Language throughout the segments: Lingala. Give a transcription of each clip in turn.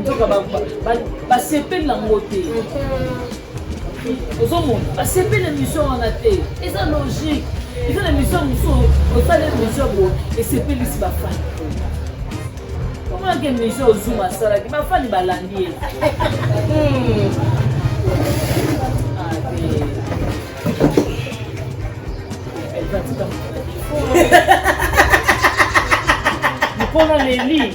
nzoka basepeli na ngo te ozomona basepeli na mission wana te eza logique eza na mission mosusu osali mission bo esepelisi bafani omonaki mission ozuma asalaki bafani balandi ye hmm. mokolo aleli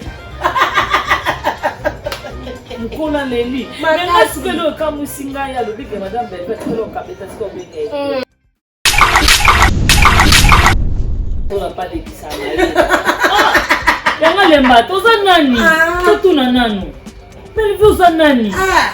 mokolo aleli mengasikelo okamwisi ngai alobi ke madame belvet kelo okabeta sika obenge mm. ola palekisa ah, yango alemba toza nani ah. totuna nanu belvi oza nani ah.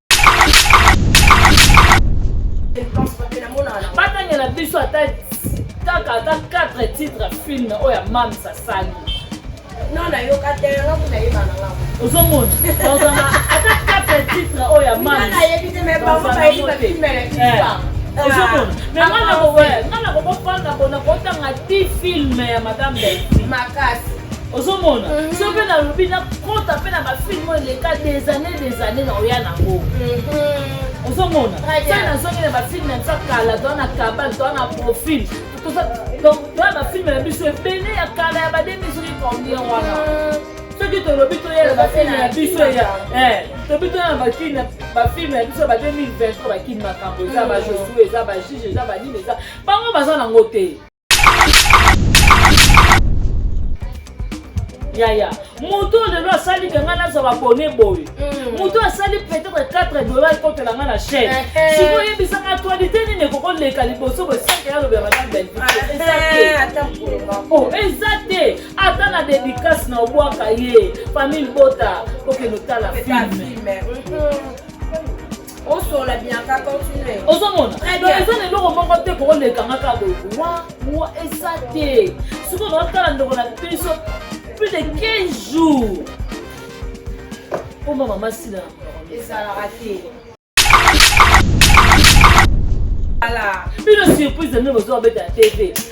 batanga na biso ata kaka ata 4 titre film oyo ya mams asali ozomona ata 4 titre oyo ya mams ozomona nga nakokofanda bona kotanga ti filme ya madame delfi makasi ozomona mhm. so mpe nalobi nakota mpe na bafilme oyo eleka des années des années na oya nango mhm. ozomona so nazongi na bafilme ya nsa kala toa na kabal toa na profil donc toa bafilme na biso ebele ya kala ya bademi soki combien wana mhm. soki tolobi toyela bafilme na biso ya eh, tobi toya na bakini bafilme na biso ba 2020 bakini makambo eza bajosue eza bajije eza banini eza bango baza nango te yaya moto oyo lelo asali ke ngai nazwa babone boye mm. moto oyo asali peut-être 4 dollar ekotela ngai na chaine eh, eh. sikoyo yebisaka actualité nini ekoki koleka liboso bosanke yalobela madame belvie oh, eza te ata na dédicace na obwaka ye famille bota okende otala filme mm-hmm. osola bianca continue ozomona eza na eloko moko te kokolekanga kaka boye wa wa eza te soki bakotala ndoko na biso plus de 15 jours mpo mama masila ezalaka te bino surprise na bino bozobabeta na tv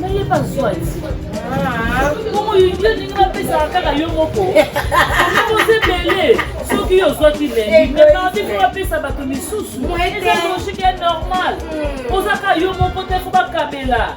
nayeba zwati bongo yo ndenge bapesaka kaka yo moko oza ebele soki yo ozwaki lendi memardi po bapesa bato misusu eza logique ya normal ozaka yo moko te fo bakabela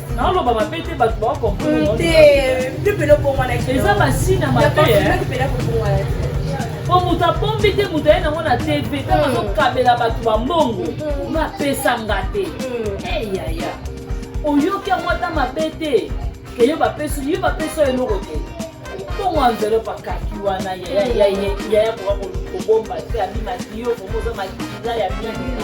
naoloba mabe te bato baokomprendreeza basina mabe po moto abombi te moto aye nango na tv ntango mm. azokabela bato bambongo mm. bapesa nga te mm. eyaya eh, oyoki yango ata mabe te ke yo bapesi yo bapesi oyo eloko te mbongo envelope akaki wana yaya koka kobomba te abima ti yo komoza makila ya mingi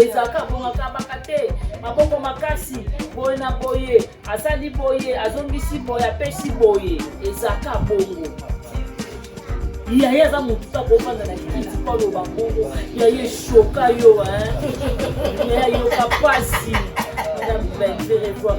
ezalaka bongakabaka te maboko makasi boye na boye asali boye azongisi boye apesi boye ezalaka bongo yaye aza motuta kofanda na kiti mpo aloba bongo yaye shoka yo yaye ayoka mpasi na belle revoir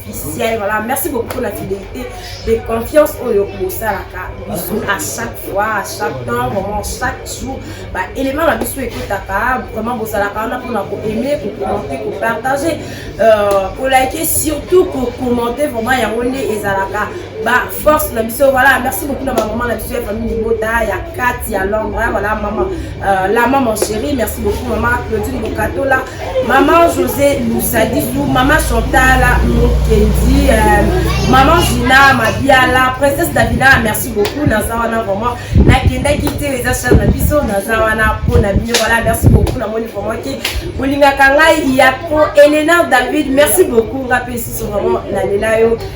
officiel voilà merci beaucoup pour la fidélité de confiance oyo bosalaka biso à chaque fois à chaque temps vraiment chaque jour ba élément na biso ekotaka vraiment bosalaka wana mpona koaime kokommente kopartage kolike euh, surtout kokommente vraiment yango nde ezalaka ba force na biso voilà merci beaucoup na bamama na biso ya famille libota ya kati ya londre voilà mama euh, la maman chérie merci beaucoup mama claudine bokatola maman josé lusadisu maman chantala mokendi euh, maman gina mabiala princesse davina merci beaucoup naza wana vraiment nakendaki te eza char na biso naza wana mpo na bino voilà merci beaucoup namoni vraiment ke bolingaka ngai ya pro elena david merci beaucoup nga mpe lisusu vraiment nalela yo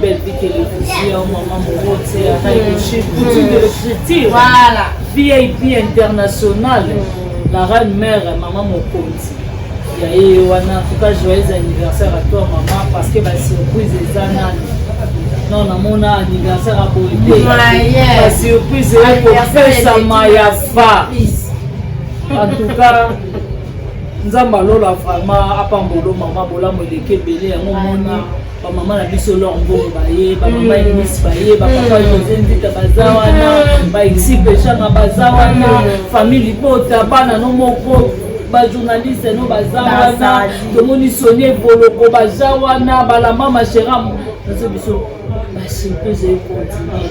Belle vie télévision, maman Morote, Raïche, Poutine de l'écriture. Voilà. VIP international. Mm. La reine mère, maman Mokonzi. ya ye wana tuka joyeux anniversaire à toi maman parce que basurprise eza nani non namona anniversaire aboye te basurprise eye kopesama ya fa en tout cas nzambe alola vraiment apambolo mama bolamu eleki ebele yango moni ba mama na biso lor mbongo baye ba mama mm. eglise baye ba papa mm. jose nzita baza mm. wana ba exipe shanga baza wana famille libota bana no moko bajournaliste no baza wana tomoni sonie boloko baza wana balama mashera nazo biso basi mpe ezali kontinue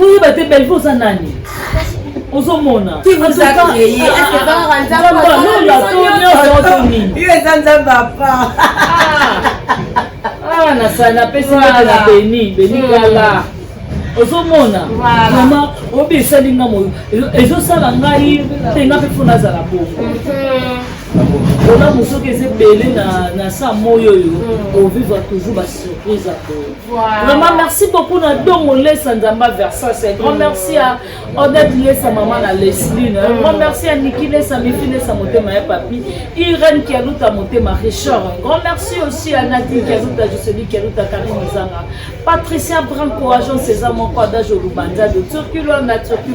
oyeba te belve oza nani ozomona eza nzambe apa ah, nasali napesi nete na beni beni hmm. kala ozomona mama obi esali nga moyo ezosala ngai te nga mpe fo nazala bongo hmm. olamu soki eza ebele na sa moyo oyo hmm. ovivre toujours basurprise ya boye Voilà. Vraiment, merci beaucoup na Dongo Lessa Nzamba Versace. Grand merci à Odette Lessa, maman na Leslie. Mm. Grand merci à Niki Lessa, Mifi Lessa, Motema et Papi. Irène Kialuta, Motema Richard. Grand merci aussi à Nadine Kialuta, Jocelyn Kialuta, Karine Zanga. Patricia Branco, agent César Moko, Adage Olubanza de Turquie, la Turquie.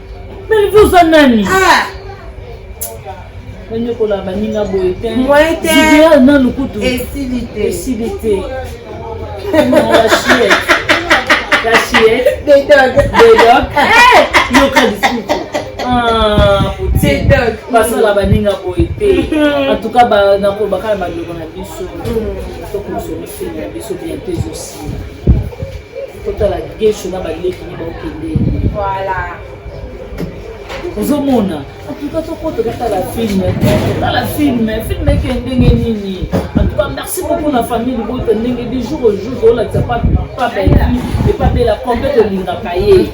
Bellevue oza nani ah. banyokola baninga boye te zidea na lokutu esili te yoka lisusu basala baninga boye te antuka nakobaka na bandeko na biso tokosolisi na biso bientôt ezosila totala gesho na baleki ne baokende voilà ozomona antuka tokota totala filme totala filme filme eke ndenge nini antuka merci beaucoup na famille libota ndenge du jour au jour toolakisa papeli epa bela kompe tolingaka ye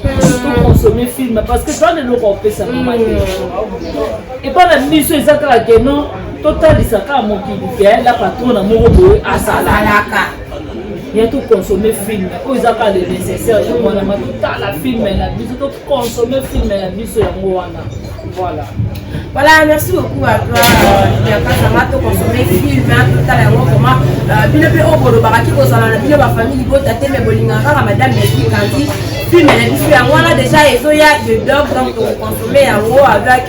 toconsomme filme parce que toana eloko opesa mama te mm. epa na miso eza kaka ke non totalisa kaka mokili ke la patrona moko boye asalalaka ya to consommer film oyo eza kaka le nécessaire ya mwana ma totala film na biso to consommer film na biso yango wana voilà voilà merci beaucoup à toi yakasanga euh, to consommer film totala yango vraiment euh, bino mpe oyo bolobaka ki kozala na bino bafamille libota te me bolingaka kaka madame mefikandi film na biso yango wana déjà ezoya de dog donc tokoconsomme yango avec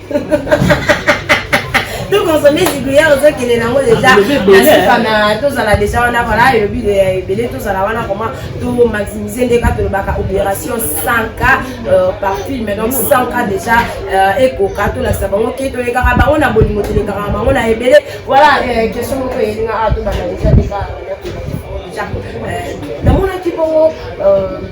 to consommer ziglière ozokende nango deja nasuka na tozala deja wana vala elobi ebele tozala wana koma to maximise nde kaka tolobaka opération 100 cas euh, par film donc 100 cas deja euh, ekoka tolakisa bango ke toyekaka bango na bolingo tolekaka bango na ebele voilà euh, question moko elinga awa tobanda deja deka namonaki bongo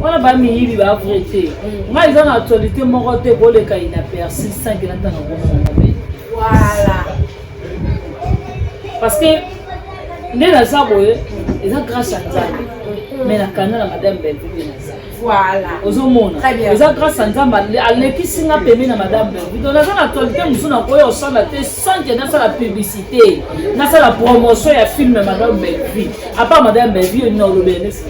wana ba miyibi ba vrai te mm. ngai eza na actualité moko te koleka inaperci sanke natanga komongobe voilà parce que nde naza boye eza grâce ya nzambe mm. mais nakanda na madame belvie naza voilà ozomona eza grâce ya nzambe alekisi nga pembe na madame belvie donc naza na actualité mosusu nakoya osala te sanke nasala publicité nasala promotion ya filme madame belvie Apa madame Bellevue yo nina olobela nesi.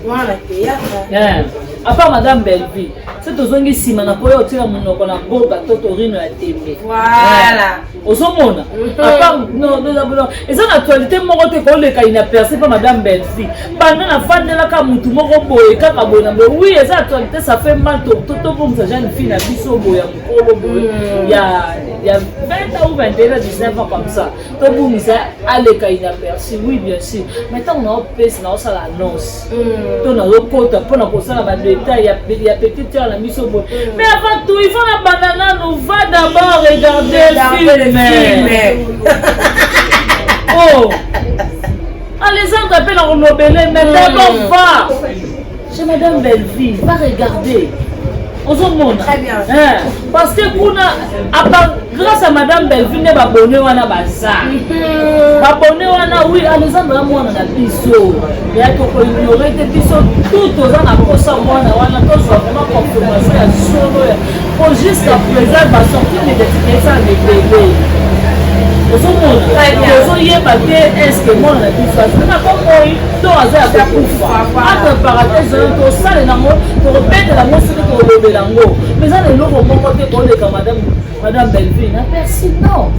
Wana théâtre. Eh. Apa madame Bellevue. Se tozongi nsima na koya otika monoko na boka to torino ya tembe. Voilà. Eh. Ozomona. Mhm. Apa no no no. Eza na actualité moko te koleka ina percer pa madame Bellevue. Banda na fandela ka mutu moko boye kaka boye na boye. Oui, eza actualité ça fait mal to to to comme ça jeune fille na biso boye ya mukolo boye. Mhm. Ya ya 20 ou 21 19 ans comme ça. tobungisa aleka inaperçu oui bien sûr mais ntango naopesa naosala annonce mm. to nazokota mpo na kosala badetail ya petit tere na biso boye mm. mais avant tout ifo na banda nano va d'abord regarder filme oh alezanga mpe na kolobele mais mm. d'abord va Chez Madame Bellevue, va regarder. ozomona hein. parce que kuna apa grâce à madame bellevue nde babone wana baza mhm. babone wana wi alexandre ya mwana na biso ya tokoignore te biso tout toza na mposa mwana wana tozwa vraiment confirmation ya solo po jusqu'à présent basorti medetitesa mebele ozomona tozoyeba te estce mwana na biso azali na bomoi to aza ya kokufa aprepara te zala tosalela yango tokobetela yango soki tokolobela yango mais eza na eloko moko te koleka madame madame belleville na persi non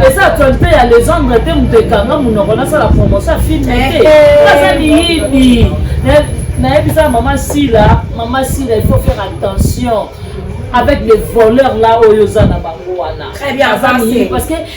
eza actualité ya legendre te moto ekanga monoko nasala promotion ya filme te eh, eh. aza miyibi nayebisa mama sila mama sila il faut faire attention avec les voleurs là oyo oza na bango wana parce que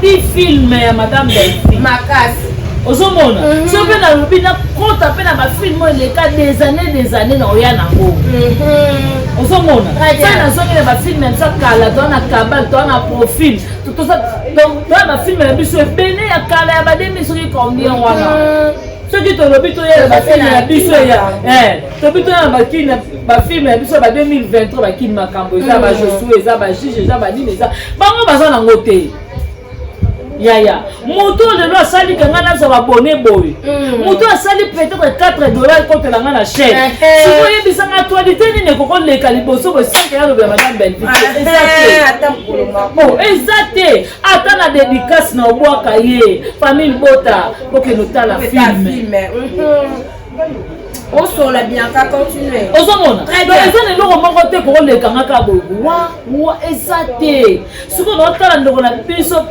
ti film ya madame delphi makasi ozomona mhm. so mpe nalobi nakota mpe na bafilme oyo eleka des années des années na oya nango mhm. ozomona sai nazongi na bafilme ya biso kala toa na kabal toa na profil toa na bafilme na biso ebele ya kala ya bademi soki combien wana mhm. soki tolobi toyela bafilme ya biso ya eh. tobi tona na bakini na bafilme na biso ba 2023 bakini makambo eza ba josue eza ba juge eza banini eza bango baza nango te yaya moto oyo lelo asali ka ngai nazwa babone boye mm. moto asali peut-être 4 dollar ekotela ngai na chaine eh, eh. siko oyebisa ngai actualité nini ekoki oleka liboso boye sanke yalobela madame belvi eza te eh, oh, ata na dédicace na obwaka ye famille bota kokende otala filme mhm. osola bianca continue ozomona eza na eloko moko te kokoleka nga kaka boye wa wa eza te sikoyo naotala ndoko na biso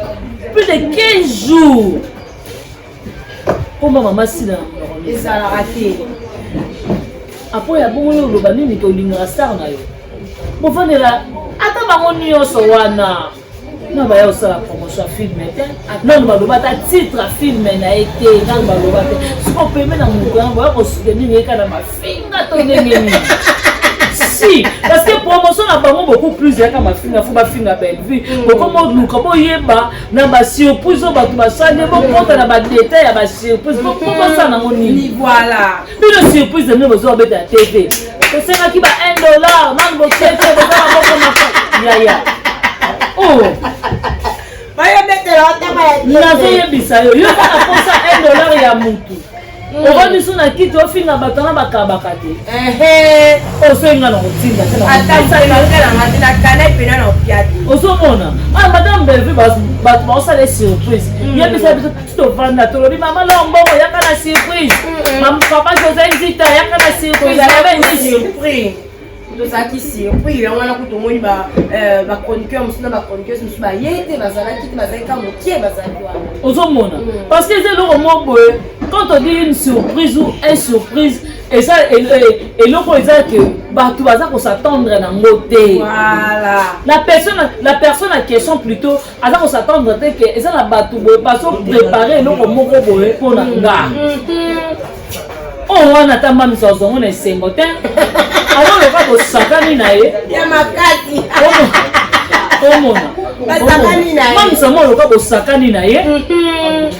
plus de 15 jours koma mama sila ezalaka te apo ya bongo yo oloba nini tolingaka star na yo bofandela ata bango nyonso wana non baya kosala promotion ya filme te nano baloba ata titre ya filme na ye te nano baloba te siko peme na monoko yango boya kosudenini yeka na mafinga to ndenge nini si parce que promotion na bango beaucoup plus yaka mafinga fo bafinga bellevue mm. bokoma oluka boyeba na basurprise oyo bato basali bokota na badetail ya basurprise bokosala mm-hmm. nango nini bino surprise na bino bozoka beta ya tv tosengaki ba 1 dollar nanu botete boza na moko maka yaya oh. nazoyebisa yo yo oza na posa 1 dollar ya mutu mm. oba biso na kiti ofinga bato na bakabaka te ozoyenga na kotinda ozomona ah, madame bellevue bato baosala surprise mm. yebisa biso tovanda tolobi mama loo mbongo yaka na surprise papa josé nzita yaka na surprise yabe nini tozalaki surpris yango wana kutu omoni bachroniqueur euh, mosusu na bachroniqueuse mosusu baye te bazalaki te bazalaki ka mokie bazalaki wana ozomona mm. parce que eza eloko moko boye quand on dit une surprise ou un surprise eza eloko eza ke bato baza kosattendre nango te la personne la personne en question plutôt aza ko s'attendre te ke eza na bato boye bazo prépare eloko moko boye mpo na nga oyo wana ata mbamisa ozongo na esengo te azoloka bosakani na ye ya makasi omona mbamisa mwa oloka bosakani na ye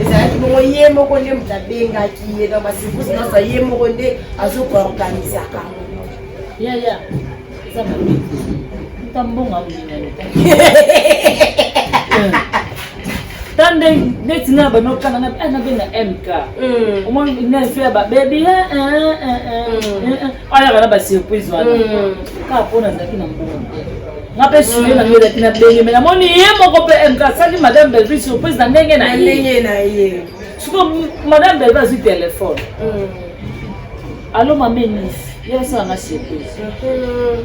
ezalaki bongo ye moko nde moto abengaki ye na basekusi nyonso ye moko nde azokoorganisaka yaya eza mabe ta mbonga minene ta nde neti na bana okana na eh, benga mk hmm. omoni nese ya babebi eh, eh, ayaka na basurprise wana hmm. kaka mpo nazalaki na mbongo te nga mpe suye na ngelaki na benge me namoni ye moko mpe eh, asali madame belvi surprise na ndenge na ye siko madame belvi azwi telefone hmm. alo mame nisi ye asala nga surprise hmm.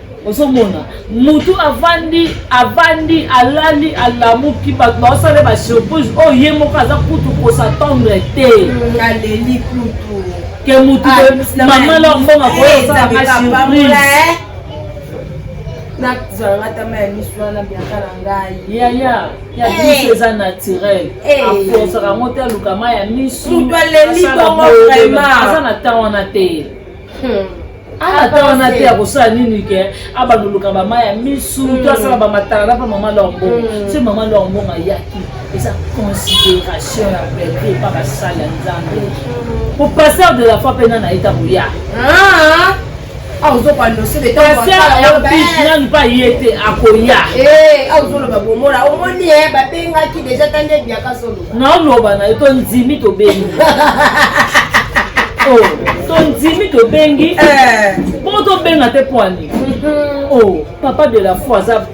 ozomona mutu avandi avandi alali alamuki bato baosala ye basurprise oyo oh, ye moko aza kutu kosatendre te aleli kutu ke mutu ah, mama lor mbonga koyosalanga surprise eh? nazalanga tama ya misu wana biaka na ngai yaya ya eh. misu eza naturel eh. akosaka yango te alukama ya misu mutu aleli bongo vraimaza na temps wana te Hmm. Ah, ata wana te akosala nini ke abandoluka bama ya misu hmm. to asala bamatala na mpe mama lombo hmm. se mama lombo ayaki eza considération ya bebe epa basali ya nzambe hmm. po pasteur de la foi mpe nana ye ntango ya ah, ah. nanu mpe aye te akoya eh, ozoloba bomona omoni ye eh, babengaki deja tande biaka solo naoloba na yo tondimi tobengi oh, tondimi tobengi eh. bongo tobenga te poani mm-hmm. o oh, papa de la foi aza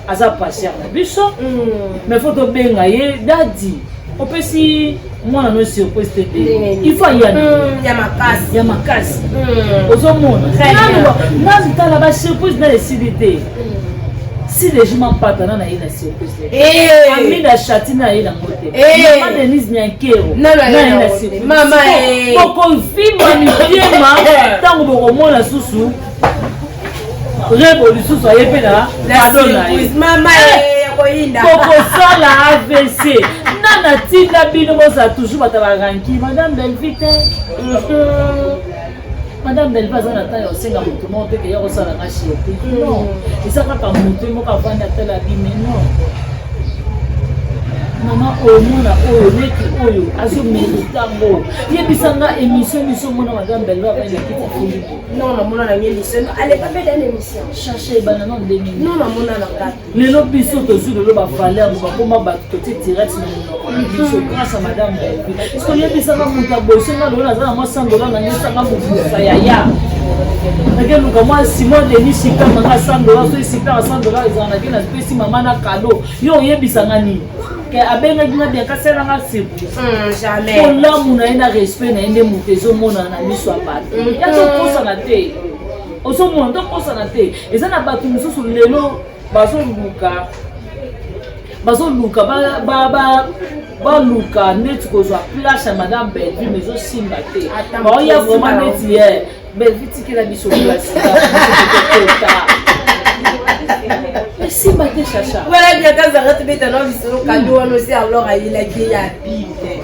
aza passer na biso mm. mais fo tobenga ye dadi opesi mwana no surprise te te ifo ayana mm, ya makasi mm. ozomona nanu tala basurprise na esili te si legima mpatana na ye na surprise Eh. amina ashati na ye nango te eh. mama denise nyankero bokovimba mitema ntango bokomona susu rebo lisusu aye mpe na ado na ye eh. bokosala avc nga natinda bino bozala toujours bato ya baranki madame belvite mhm. madame belva aza na ntango ya kosenga moto moko te keya kosala nga shiopi non eza kaka moto ye moko avandi atala bime non mama oyo mwana oyo leki oyo azomerita ngo yebisa nga émission biso mona madame belva avandi na kiti afuli non namona na nge émission aleka mpe dana émission cherche ebana non 2000 non namona na nga lelo biso tozwi lelo bavaler bo bakoma bato totie direct na monoko na biso grâce ya madame boyebi soki oyebisaka moto ya boye soki nga lelo naza na mwa sandola na nyesanga mokusa ya ya nake luka mwa simon deni sikanga nga sandola soki sikanga sandola ezala nake napesi mama na kado yo oyebisanga nini ke abengaki nga bien kasala nga sirprisepolamu hmm, na ye na respect na ye nde moto ezomonana na miso ya bato hmm. ya tokosana te ozomona tokosana te eza na bato mosusu lelo bazoluka bazoluka baluka neti kozwa place ya madame bellevue mais ezosimba te baoya vraiment neti ye bellevue tikela biso place esimba te chacha wana biakazanga tobeta na lisolo kado wana osi alor ayelaki ye ya bible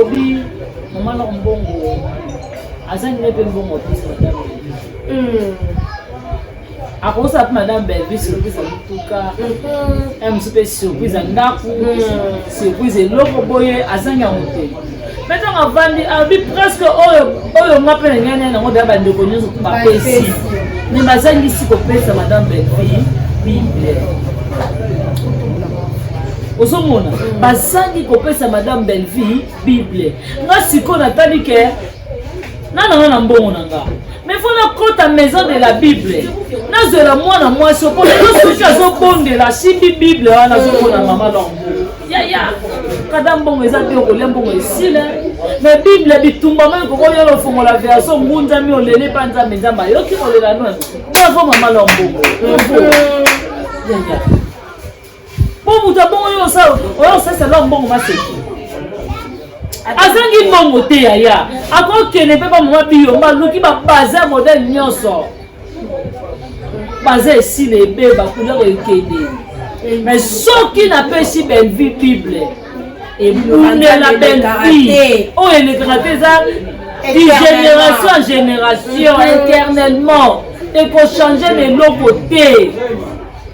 obi mama na mbongo aza nini mpe mbongo apesa madame hmm. akosala mpe madame belvi surprise ya motuka ya mosu mpe surprise ya ndako surprise eloko boye azangi yango te mpe ntango avandi abi presque oyo oyo nga mpe nangai naye nango deya bandeko nyonso bapesi me bazangisi kopesa madame belvi bible ozomona bazangi kopesa madame bellevie bible nga sikoyo natali ke nana nga na mbongo na nga mais fo nakota maison de la bible nazwela mwana mwasi opo soki azobondela asimbi bible wana azomona mama lombo yaya kada mbongo eza te okolia mbongo esila me bible bitumba mai kokoyola ofongola verso ngunzami olele mpa nzambe nzambe ayoki kolela nani bravo mama lombo yaya Mpo moto abongo yo osa oya osalisa lwa mbongo maseki. Azangi mbongo te yaya. Akokende mpe ba mama biyo baluki ba baza modèle nyonso. Baza esila ebeba kulero ekende. Mais soki napesi Bellevue Bible ebundela Bellevue oyo elekaka te eza génération en génération éternellement ekochange na eloko te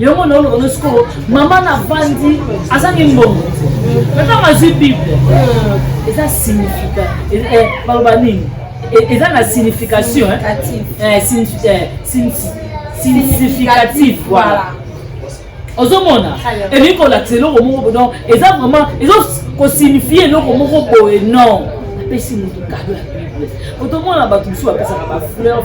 yango na oloba nosi ko mama na vandi azangi mbongo ntango azwi bible eza signifika baloba nini eza na signification significatif voilà ozomona elingi kolakisa eloko moko don eza vraiment ezo kosignifie eloko moko boye non apesi moto kado ya bible otomona bato mosusu bapesaka bafleur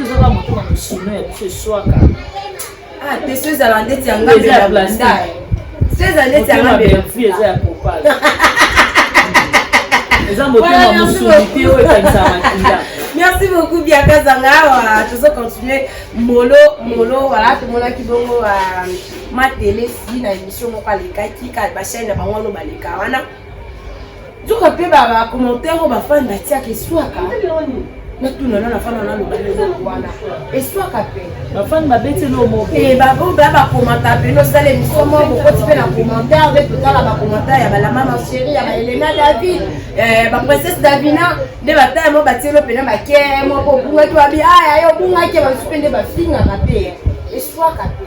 ezaka moto na mosolo ya biso eswaka ah, te so ezala ndeti ya ngambe ya blandai so ezala ndeti ya ngambe eza ya propale eza motema mosuni te oyo ekanisa makila merci beaucoup biakazanga awa tozo continue molo molo wala tomonaki bongo euh, matelesi na émission moko alekaki bachaine na bango wana baleka wana nzoka mpe bacommentaire oyo bafani batiaka eswaka natuna nana fana naloba eloko wana eswaka mpe bafani babeti eloko moko e baboba bakomanta mpe nosala emission moko bokoti mpe na commentaire nde totala bacommentaire ya balama macheri ya baelena david eh, baprincesse davina nde bataya mo batie elo mpena bake moko obungaki wabi aya ah, yo obungaki basusu mpe nde bafingaka mpe eswaka mpe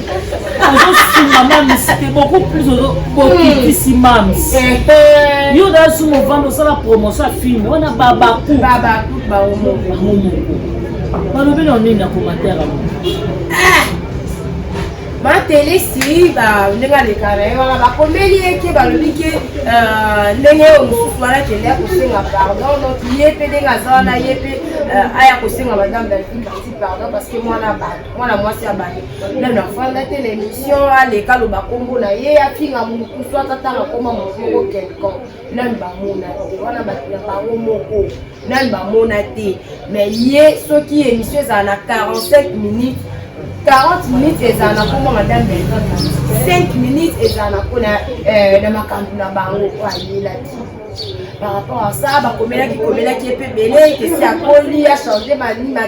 ozosunga mamis te beaucoup plus okitisi mamis yo dasu movanda osala promotion ya filme wana babaku balobi na nini na commentaire yango matele si ndenge aleka na ye wana bakomeli ye ke balobi ke euh, ndenge oyo mosusu wana kende ya kosenga pardon donc ye mpe ndenge aza wana ye mpe euh, aya kosenga madame dalfin parti pardon parce que mwana bato mwana mwasi ya baye nano afanda te na émission aleka aloba nkombo na ye afinga mokusu ata ntango akoma moto moko quelcon nano bamona te wana bato na bango moko nano bamona te mais ye soki émission ezala na 45 minutes 40 minutes ezala na nkombo madame belton 5 minutes ezala na mpona euh, na makambo na bango oyo ayelaki par rapport à ça bakomelaki komelaki ye mpe ebele ekesi akoli achange manima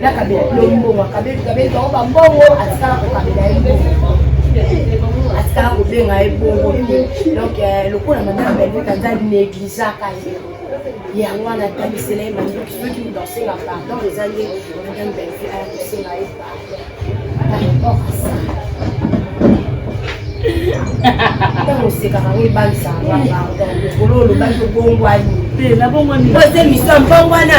na kabela yo mbongo akabeli kabeli bango bambongo atikala kokabela ye mbongo atikala kobenga ye bongo te donc euh, lokola madame belvete aza negligaka ye yango wana atalisela ye mandoki soki moto asenga pardon eza nde madame belvete aya kosenga ye pardon osekaka ngo ebalisaka nga pardon lokolo olobaki obongwani te nabongwani po eza émission ya mbongwana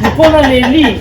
mpona leli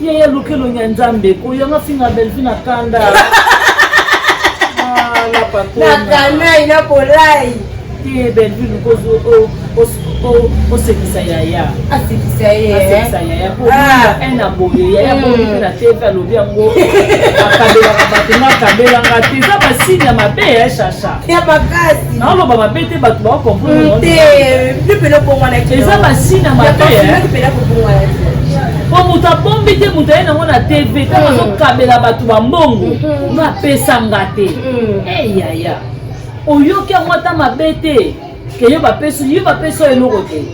Yaya luki elongi ya Nzambe ko yanga finga Bellevue na kanda. Ah la patona. Na kanai na bolai. Te Bellevue lukozo o o o sekisa yaya. Asekisa ye. Asekisa yaya ko un aboye yaya ko ni na TV alobi yango. Akabela ka bato na kabela nga te. Eza ba signe ya mabe ya chacha. ya makasi naoloba mabe te bato baokomprete mpela obongwanaki eza basini ya mabe mpela kobongwanaki po moto abombi te moto aye nango na tv ntango mm. azokabela bato bambongo mm-hmm. nga apesa nga te mm. eyaya eh, oyoki yango ata mabe te keyo bapesi yo bapesi oyo eloko te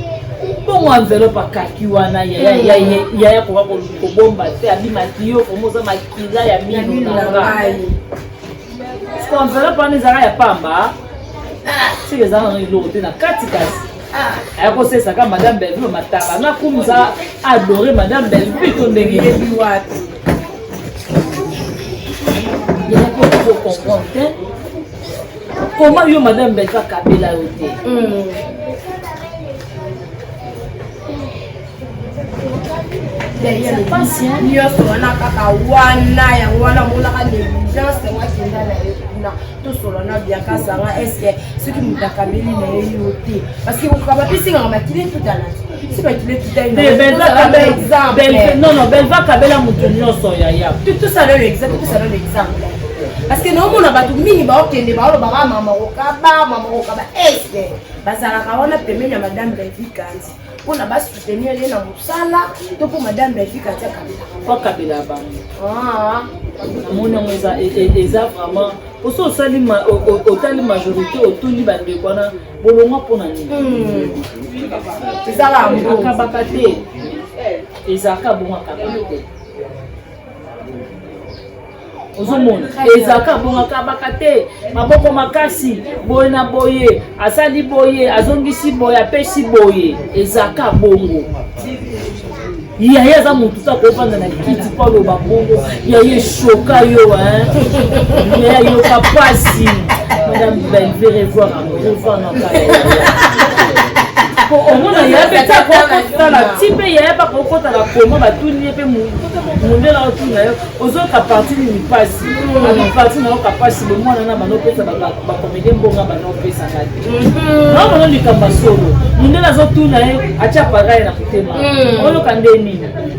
bongo enveloppe akaki wana yaya koka kobomba te abimaki yo komoza makila ya mino na ngai Siko enveloppe wana ezalaka ya pamba. Siko ah. ezalaka na eloko te na kati kasi. Ah. Aya kosesa ka madame Bellevue mataba na kumza adore madame Bellevue to ndenge yebi wapi. Yaya ko ko comprendre te. Comment yo madame Bellevue akabela yo te? Hmm. nyonso wana kaka wana yango wana monaka negligence yango akenda na ye kuna tosola na biakasanga eske soki moto akameli na ye yo te parceke koka bapesingaka makili tutana nono belva kabela moto nyonso yaya tosala yo exemple tosala yo exemple parce que naomona bato mingi baokende baolobaka ah, mama kokaba mama kokaba este bazalaka wana pembeni ya madame revi kanzi mpo na basoutenir ye na mosala to mpo madame belvik atia kabila mpo kabila ya bango ah. namoni yango eza e, e, e, vraiment osi osali otali majorité otuni bandeko wana bolongwa mpo na nini hmm. ezalaka te ezalaka bongo akabaka te ozomona ezalaka abongaka baka te maboko makasi boye na boye asali boye azongisi boye apesi boye ezalaka bongo yaye aza motu ta kofanda na kiti mpo aloba bongo yaye eshoka yo yaye ayoka mpasi madame belve revoir omona yaya mpe akokotala ti mpe yaya mpe akokotala koma batuni ye mpe mondela otuna yo ozoyoka parti nini mpasi ami parti nayoka mpasi bomwana na bana opesa bakomede mbonga bana opesaka te naomona likambo ya solo mondela azotuna ye atya paraye na motema oyoka nde nini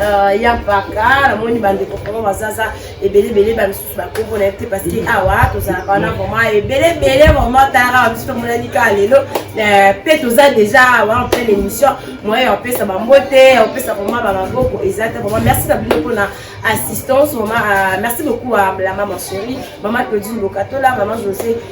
Euh, ya mpaka namoni bandeko vraimen bazaza ebele ebele bamisusu bakombo na ye te parce que mm. awa tozalaka wana mm. vraiment ebele ebele vraiment tara bamisusu tomonani kaka lelo euh, mpe toza déjà awa en pleine émission moyen ya kopesa bambote ya kopesa vraiment bamaboko eza te vraiment merci na bino mpona assistance vraiment euh, merci beaucoup à la maman chérie maman claudine bokatola maman josé